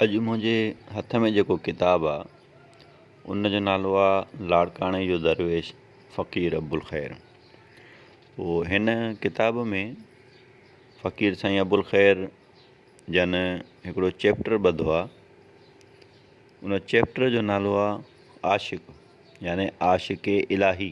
اڄ منهنجي هٿ ۾ جيڪو ڪتاب آ ان جو نالو آ لاڙڪاڻي جو درويش فقير ابوالخير پوء هن ڪتاب ۾ فقير سائين ابوالخير جن هڪڙو چيپٽر ٻڌو آ ان چيپٽر جو نالو آ عاشق يعني عاشق الاهي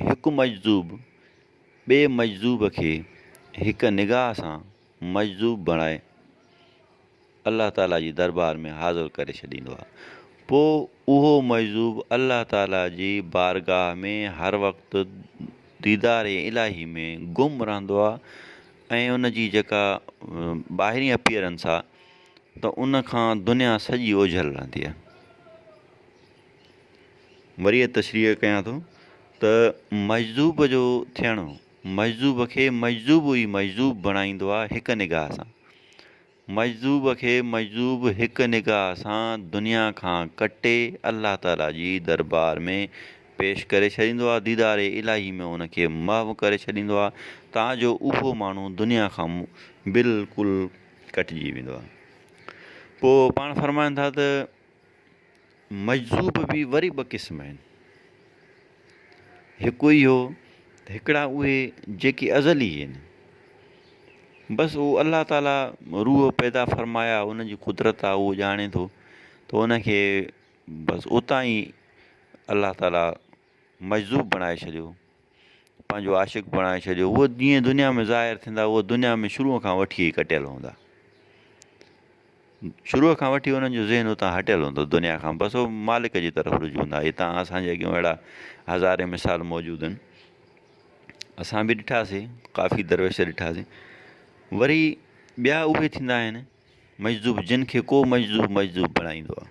هڪ مجذوب ٻئي مجذوب کي هڪ نگاهه سان مجذوب بڻائي الله تعالي جي دربار ۾ حاضر ڪري ڇڏيندو آهي پوء اهو مجذوب الله تعالي جي بارگاهه ۾ هر وقت ديدار الاهي ۾ گم رهندو آهي ۽ ان جي جيڪا ٻاهرين اپيئرنس آهي ته ان کان دنيا سڄي اوجهل رهندي آهي وري تشريح ڪيان ٿو ته مجذوب جو ٿيڻ مجذوب کي مجذوب ئي مجذوب بڻائيندو آهي هڪ نگاهه سان. مجذوب کي مجذوب هڪ نگاهه سان دنيا کان ڪٽي الله تعاليٰ جي دربار ۾ پيش ڪري ڇڏيندو آهي، ديدار الاهي ۾ ان کي محو ڪري ڇڏيندو آهي تان جو اهو ماڻهو دنيا کان بلڪل ڪٽجي ويندو آهي. پوء پاڻ فرمائن ٿا ته. مجذوب به وري ٻه قسم آهن. هڪ اهو ته هڪڙا اهي جيڪي ازلي آهن. بس اهو الله تعاليٰ روح پيدا فرمايا ان جي قدرت آهي اهو ڄاڻي ٿو ته ان کي بس اتان ئي الله تعاليٰ مجذوب بڻائي ڇڏيو پنهنجو عاشق بڻائي ڇڏيو هو جيئن دنيا ۾ ظاهر ٿيندا هو دنيا ۾ شروع کان وٺي ئي ڪٽيل هوندا شروع کان وٺي انهن جو ذهن اتان هٽيل هوندو دنيا کان بس هو مالڪ جي طرف رجوع هوندا هي تان اسان جي اڳيون اهڙا هزارين مثال موجود آهن اسان به ڏٺاسي ڪافي درويش ڏٺاسي وري ٻيا اهي ٿيندا آهن مجذوب جن کي ڪو مجذوب مجذوب بڻائيندو آهي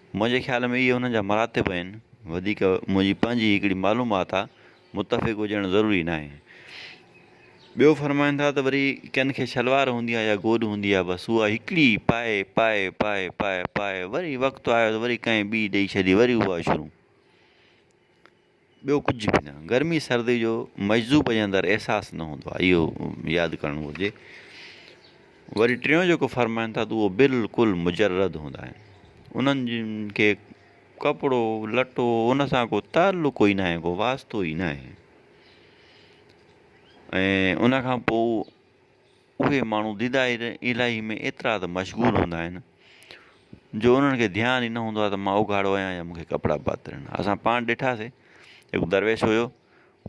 منهنجي خيال ۾ اهي انهن جا مراتب آهن، وڌيڪ منهنجي پنهنجي هڪڙي معلومات آ، متفق هجڻ ضروري ناهي. ٻيو فرمائن ٿا ته وري ڪن کي شلوار هوندي آ يا گوڏ هوندي آ، بس اها هڪڙي ئي پائي پائي پائي پائي پائي وري وقت آيو ته وري ڪنهن ٻي ڏئي ڇڏي وري اها شروع. ٻيو ڪجهه به نه. گرمي سردي جو مجذوب جي اندر احساس نه هوندو آهي، اهو ياد ڪرڻ گهرجي. وري ٽيون جيڪو فرمائن ٿا ته اهو بلڪل مجرد هوندا آهن. انهن جن کي ڪپڙو لٽو ان سان ڪو تعلق ئي ناهي ڪو واسطو ئي ناهي. ۽ ان کان پوء اهي ماڻهو ديدائر الاهي ۾ ايترا ته مشغول هوندا آهن جو انهن کي ڌيان ئي نه هوندو آهي ته مان اگهاڙو آهيان يا مونکي ڪپڙا پاتل آهن اسان پاڻ ڏٺاسي هڪ درويش هيو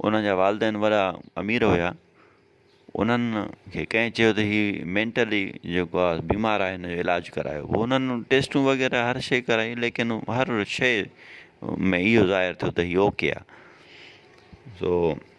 انهن جا والدين وڏا امير هيا انهن کي ڪنهن چيو ته هي مينٽلي جيڪو آهي بيمار آهي هن جو علاج ڪرايو هو انهن ٽيسٽون وغيره هر شي ڪرائي ليڪن هر شي ۾ اهو ظاهر ٿيو ته هي اوڪي آهي سو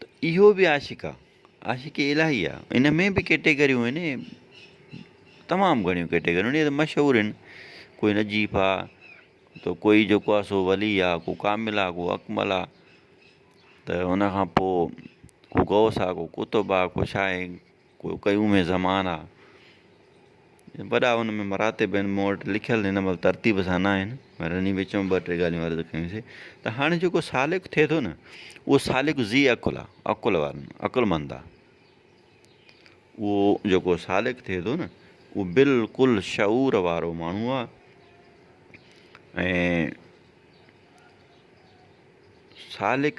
ته اهو به عاشق آ. عاشق الاهي آ. ان ۾ به ڪيٽيگريون آهن تمام گهڻيون ڪيٽيگريون آهن مشهور آهن ڪوئي نجيف آ تو ڪوئي جيڪو آ سو ولي آ ڪو ڪامل آ ڪو اڪمل آ ته ان کان پوء ڪو غوث آ ڪو قطب آ ڪو شاهه ڪو قيوم زمان آ. وڏا ان ۾ مراتب آهن مون وٽ لکيل هن مهل ترتيب سان نه آهن پر انهي وچ ۾ ٻه ٽي ڳالهيون عرض ڪيون سي ته هاڻي جيڪو سالڪ ٿئي ٿو نه اهو سالڪ ذي عقل آ عقل وارن عقلمند آ اهو جيڪو سالڪ ٿئي ٿو نه اهو بلڪل شعور وارو ماڻهو آ ۽ سالڪ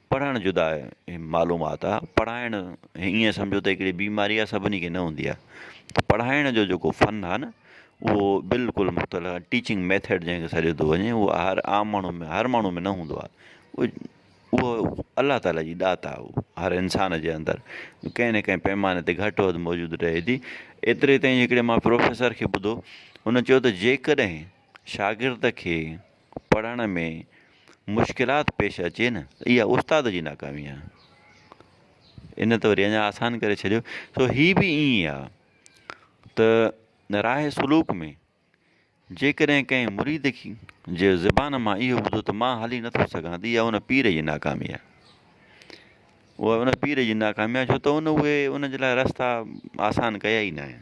پڙهڻ جدا معلومات آ پڙهائڻ ائين سمجهو ته هڪڙي بيماري آ سڀني کي نه هوندي آ ته پڙهائڻ جو جيڪو فن آ نه اهو بلڪل مختلف آ ٽيچنگ ميٿڙ جنهن کي سڏيو ٿو وڃي اهو هر عام ماڻهو ۾ هر ماڻهو ۾ نه هوندو آ اهو الله تعاليٰ جي ڏات آ اهو هر انسان جي اندر ڪنهن نه ڪنهن پئماني تي گهٽ وڌ موجود رهي ٿي ايتري تائين هڪڙي ماڻهو پروفيسر کي ٻڌو هن چيو ته جيڪڏهن شاگرد کي پڙهڻ ۾ مشڪلات پيش اچي نه اها استاد جي ناڪامي آ ان ته وري اڃا آسان ڪري ڇڏيو سو هي به ائين ئي آ ته راهي سلوڪ ۾ جيڪڏهن ڪنهن مريد کي جي زبان مان اهو ٻڌو ته مان هلي نٿو سگهان ته اها ان پير جي ناڪامي آ اها ان پير جي ناڪامي آ ڇو ته ان اهي ان جي لاء رستا آسان ڪيا ئي ناهن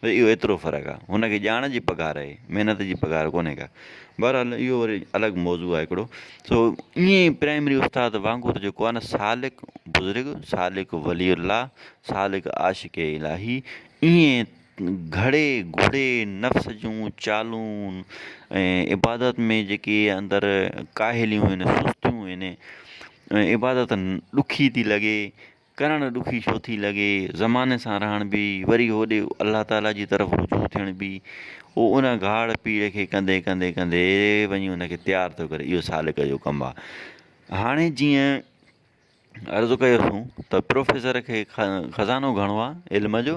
بس اهو ايترو فرق آ. هن کي ڄاڻ جي پگهار آهي محنت جي پگهار ڪونهي ڪا. بهرحال اهو وري الڳ موضوع آهي هڪڙو. سو ائين ئي پرائمري استاد وانگر جيڪو آهي نه سالڪ بزرگ، سالڪ ولي الله، سالڪ عاشق الاهي ائين گهڙي گهڙي نفس جون چالون ۽ عبادت ۾ جيڪي اندر ڪاهليون آهن سستيون آهن عبادت ڏکي ٿي لڳي ڪرڻ ڏکي ڇو ٿي لڳي، زماني سان رهڻ به، وري هوڏي الله تعاليٰ جي طرف رجوع ٿيڻ به، هو ان گهاڙ پيڙ کي ڪندي ڪندي ڪندي وڃي ان کي تيار ٿو ڪري، اهو سالڪ جو ڪم آهي. هاڻي جيئن عرض ڪيو سون ته پروفيسر کي خزانو گهڻو آهي علم جو،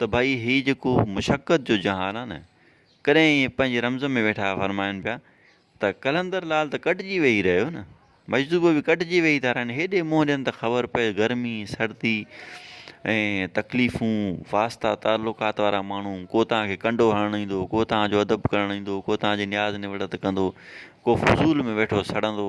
ته ڀائي هي جيڪو مشقت جو جهان آ نه ڪڏهن ائين پنهنجي رمز ۾ ويٺا فرمائن پيا ته قلندر لعل ته ڪٽجي ويهي رهيو نه مجذوب به ڪٽجي ويهي ٿا رهن هيڏي منهن ڏين ته خبر پئي گرمي سردي ۽ تڪليفون واسطا تعلقات وارا ماڻهو ڪو توهان کي ڪنڊو هڻڻ ايندو ڪو توهان جو ادب ڪرڻ ايندو ڪو توهان جي نياز نوڙت ڪندو ڪو فضول ۾ ويٺو سڙندو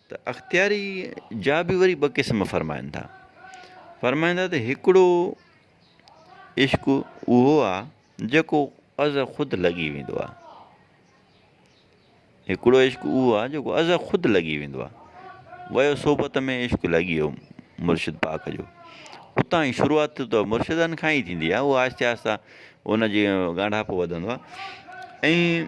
ته اختياري جا به وري ٻه قسم فرمائن ٿا. فرمائن ٿا ته هڪڙو عشق اهو آ جيڪو از خود لڳي ويندو آ. هڪڙو عشق اهو آ جيڪو از خود لڳي ويندو آ. ويو صحبت ۾ عشق لڳي ويو مرشد پاڪ جو. اتان ئي شروعات ته مرشدن کان ئي ٿيندي آ. اهو آهستي آهستي ان جي ڳانڍاپو وڌندو آ. ۽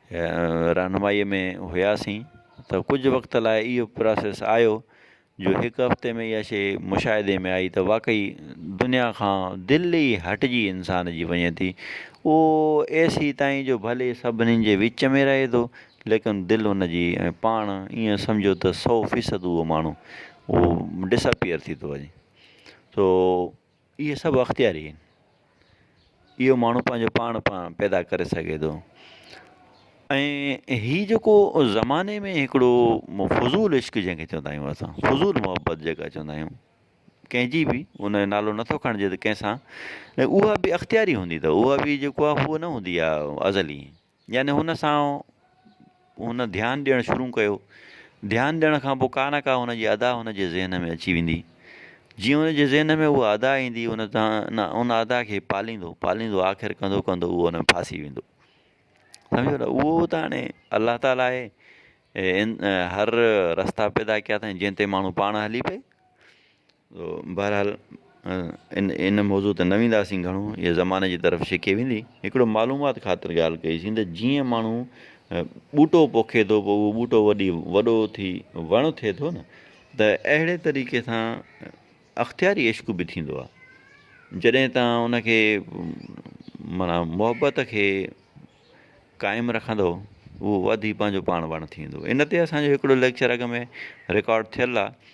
رهنمائيء ۾ هياسين ته ڪجهه وقت لاء اهو پراسيس آيو جو هڪ هفتي ۾ اها شيء مشاهدي ۾ آئي ته واقعي دنيا کان دل ئي هٽجي انسان جي وڃي ٿي اهو ايسي تائين جو ڀلي سڀني جي وچ ۾ رهي ٿو ليڪن دل ان جي ۽ پاڻ ائين سمجهو ته سو فيصد اهو ماڻهو اهو ڊسپيئر ٿي ٿو وڃي سو اهي سڀ اختياري آهن. اهو ماڻهو پنهنجو پاڻ پاڻ پيدا ڪري سگهي ٿو ۽ هي جيڪو زماني ۾ هڪڙو فضول عشق جنهن کي چوندا آهيون اسان فضول محبت جيڪا چوندا آهيون ڪنهنجي به ان جو نالو نٿو کڻجي ته ڪنهن سان ۽ اها بي اختياري هوندي اٿو اها بي جيڪو آهي هو نه هوندي آهي ازلي يعني هن سان هن ڌيان ڏيڻ شروع ڪيو، ڌيان ڏيڻ کان پوء ڪا نه ڪا هن جي ادا هن جي ذهن ۾ اچي ويندي، جيئن هن جي ذهن ۾ اها ادا ايندي هن ان ادا کي پاليندو پاليندو آخر ڪندو ڪندو اهو ان ۾ ڦاسي ويندو سمجهيو نه اهو ته هاڻي الله تعاليٰ اهي هر رستا پيدا ڪيا اٿائين جنهن تي ماڻهو پاڻ هلي پئي بهرحال ان موضوع تي نه وينداسين گهڻو هيء زماني جي طرف ڇڪي ويندي هڪڙو معلومات خاطر ڳالهه ڪئي سين ته جيئن ماڻهو ٻوٽو پوکي ٿو پوء اهو ٻوٽو وڏي وڏو ٿي وڻ ٿئي ٿو نه ته اهڙي طريقي سان اختياري عشق به ٿيندو آهي جڏهن تان ان کي مانا محبت کي قائم رکندو اهو وڌي پنهنجو پاڻ وڻ ٿيندو ان تي اسانجو هڪڙو ليڪچر اڳ ۾ رڪارڊ ٿيل آهي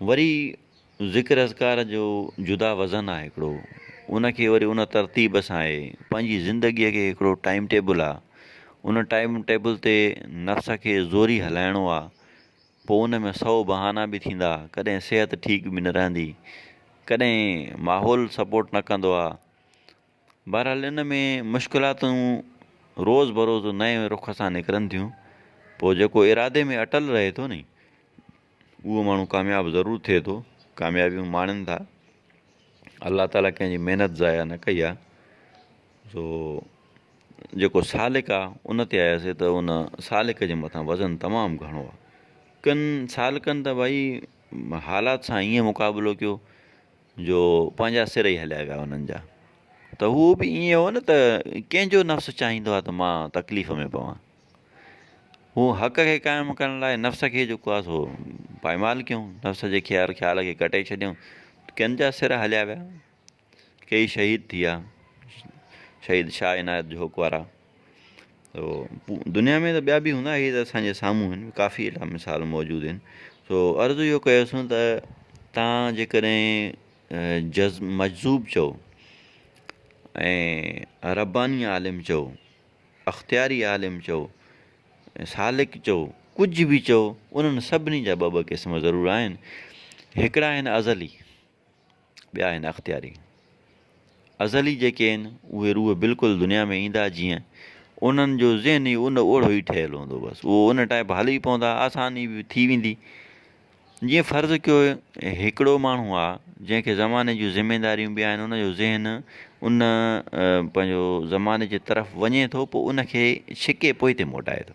وري ذڪر اذڪار جو جدا وزن آ هڪڙو ان کي وري ان ترتيب سان آهي پنهنجي زندگي کي هڪڙو ٽائيم ٽيبل آ ان ٽائيم ٽيبل تي نفس کي زوري هلائڻو آ پو ان ۾ سئو بهانا به ٿيندا ڪڏهن صحت ٺيڪ به نه رهندي ڪڏهن ماحول سپورٽ نه ڪندو آ بهرحال ان ۾ مشڪلاتون روز بروز نئين رخ سان نڪرن ٿيون پوء جيڪو ارادي ۾ اٽل رهي ٿو ني اهو ماڻهو ڪامياب ضرور ٿئي ٿو ڪاميابيون ماڻين ٿا الله تعالٰي ڪنهن جي محنت ضايع نه ڪئي آ سو جيڪو سالڪ آ ان تي آياسي ته ان سالڪ جي مٿان وزن تمام گهڻو آ ڪن سالڪن ته ڀائي حالات سان ائين مقابلو ڪيو جو پنهنجا سر ئي هليا ويا انهن جا ته هو به ائين هو نه ته ڪنهن جو نفس چاهيندو آهي ته مان تڪليف ۾ پوان هو حق کي قائم ڪرڻ لاء نفس کي جيڪو آهي سو پائمال ڪيون نفس جي خيال خيال کي ڪٽي ڇڏيون ڪن جا سر هليا ويا ڪيئي شهيد ٿي ويا شهيد شاهه عنايت جهوڪ وارا سو دنيا ۾ ته ٻيا به هوندا هي ته اسانجي سامهون هن ڪافي اهڙا مثال موجود هن سو عرض اهو ڪيو سون ته تان جيڪڏهن جز مجذوب چئو ۽ رباني عالم چئو اختياري عالم چئو سالڪ چئو ڪجهه به چئو انهن سڀني جا ٻه ٻه قسم ضرور آهن هڪڙا آهن ازلي ٻيا آهن اختياري ازلي جيڪي آهن اهي روح بلڪل دنيا ۾ ايندا جيئن انهن جو ذهن ئي ان اوڙو ئي ٺهيل هوندو بس اهو ان ٽائيپ هلي ئي پوندا آساني به ٿي ويندي جيئن فرض ڪيو هڪڙو ماڻهو آ جنهن کي زماني جون ذميداريون به آهن ان جو ذهن ان پنهنجو زماني جي طرف وڃي ٿو پوء ان کي ڇڪي پوئتي موٽائي ٿو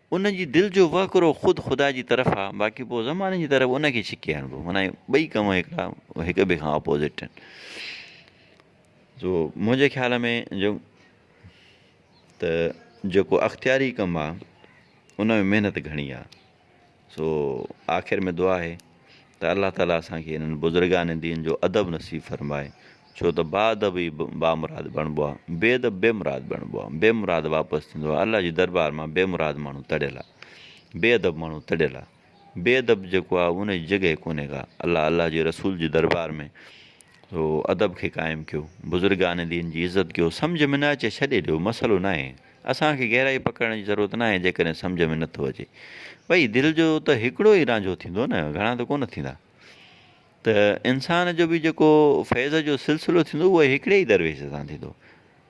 ان جي دل جو وهڪرو خود خدا جي طرف آ باقي پوء زماني جي طرف ان کي ڇڪي هڻبو معنيٰ ٻئي ڪم هڪڙا هڪ ٻئي کان اپوزٽ آهن سو منهنجي خيال ۾ جو ته جيڪو اختياري ڪم آ ان ۾ محنت گهڻي آ سو آخر ۾ دعا آهي ته الله تعاليٰ اسان کي انهن بزرگان دين جو ادب نصيب فرمائي ڇو ته باادب ئي بامراد بڻبو آ بي ادب بي مراد بڻبو آ بي مراد واپس ٿيندو آ الله جي دربار مان بي مراد ماڻهو تڙيل آ بي ادب ماڻهو تڙيل آ بي ادب جيڪو آ ان جي جڳهه ڪونهي ڪا الله الله جي رسول جي دربار ۾ هو ادب کي قائم ڪيو، بزرگان دين جي عزت ڪيو، سمجهه ۾ نه اچي ڇڏي ڏيو مسئلو ناهي، اسان کي گهرائي پڪڙڻ جي ضرورت ناهي جيڪڏهن سمجهه ۾ نٿو اچي. ڀئي دل جو ته هڪڙو ئي رانجهو ٿيندو نه گهڻا ته ڪونه ٿيندا. ته انسان جو به جيڪو فيض جو سلسلو ٿيندو اهو هڪڙي ئي درويش سان ٿيندو.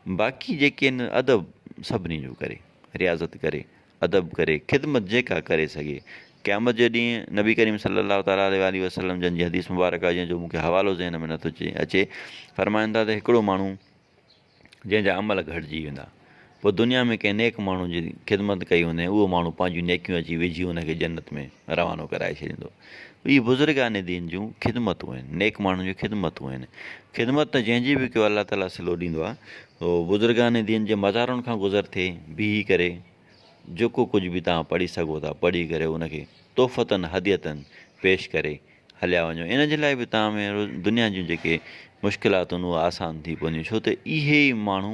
باقي جيڪي آهن ادب سڀني جو ڪري، رياضت ڪري. ادب ڪري، خدمت جيڪا ڪري سگهي. قيامت جي ڏينهن نبي ڪريم صلّي الله تعالٰي عليه واٰله وسلّم جن جي حديث مبارڪ آهي جنهن جو مون کي حوالو ذهن ۾ نٿو اچي، فرمائن ٿا ته هڪڙو ماڻهو جنهن جا عمل گهٽجي ويندا، پوء دنيا ۾ ڪنهن نيڪ ماڻهو جي خدمت ڪئي هوندين، اهو ماڻهو پنهنجون نيڪيون اچي وجهي ان کي جنت ۾ روانو ڪرائي ڇڏيندو. اهي بزرگان دين جون خدمتون آهن، نيڪ ماڻهن جون خدمتون آهن، خدمت ته جنهن جي به ڪيو الله تعاليٰ صلو ڏيندو آهي، سو بزرگان دين جي مزارن کان گذر ٿي بيهي ڪري جيڪو ڪجهه به توهان پڙهي سگهو ٿا پڙهي ڪري ان کي تحفتاً هديتاً پيش ڪري هليا وڃو ان جي لاء به توهان ۾ دنيا جون جيڪي مشڪلاتون آهن اهي آسان ٿي پونديون ڇو ته اهي ئي ماڻهو